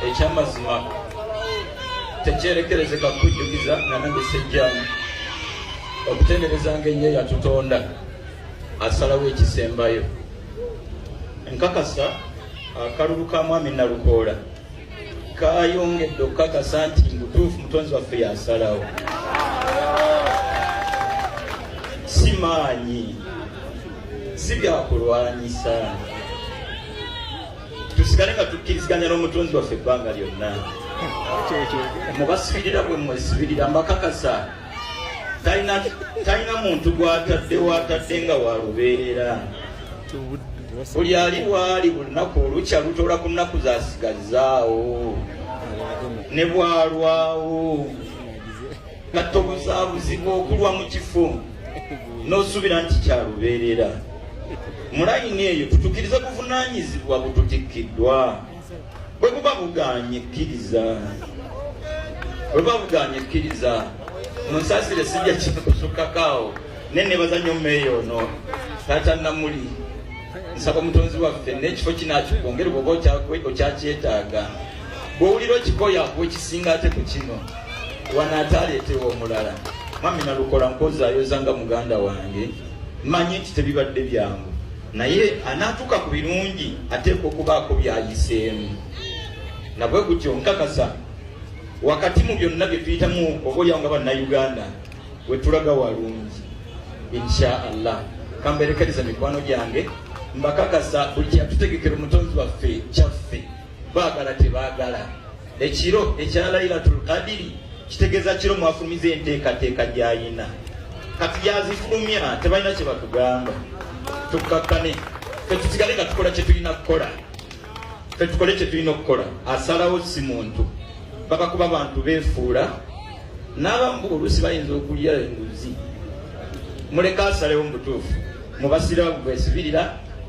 ekyamazima tekyerekerezeka kujjukiza nga nange sejjamu okutendereza nga ennyo yatutonda asalawo ekisembayo nkakasa akalulu ka mwami nalukoola kayongedde okukakasa nti mutuufu mutonzi waffe yasalawo si maanyi si byakulwanyisa tusigale nga tukkiriziganya n'omutonzi waffe ebbanga lyonna mubasibirira bwe mwesibirira mbakakasa talina muntu gwatadde watadde nga walubeerera buli ali waali bulunaku olukya lutola ku nnaku zasigazaawo ne bwalwawo nga tobuzabuzibwa okulwa mu kifo n'osuubira nti kyalubeerera mulayini eyo tutukiriza buvunanyizibwa bututikkiddwa bwe buba bugaanye kkiriza bwe buba bugaanye kkiriza munsasire sijja kikusukkakaawo naye nebaza nnyo mmeeyo ono taata namuli nsaba omutonzi waffe n'ekifo kinakikwongere bwoba okyakyetaaga bwowulira okikoya akuwa ekisinga ate ku kino wanaataaleetewa omulala mwami nalukola nkozayoza nga muganda wange manyi nti tebibadde byangu naye anaatuuka ku birungi ateekwa okubaako byayiseemu nabwe gutyo nkakasa wakati mu byonna bye tuyitamu oba olyawo nga bannayuganda wetulaga walungi insha allah kamberekeriza mikwano gyange mbakakasa buli kyatutegekera omutonzi waffe kyaffe Baagala tebaagala ekiro ekya Lailatul Qadiri kitegeeza kiro mwafulumiza enteekateeka gy'alina kati yazifulumya tebalina kye batugamba tukkakkane fe tusigale nga tukola kye tulina kukola fe tukole kye tulina okukola asalawo si muntu baba kuba bantu beefuula n'abamu oluusi bayinza okulya enguzi muleka asalewo mu butuufu mubasiraamu bwesibirira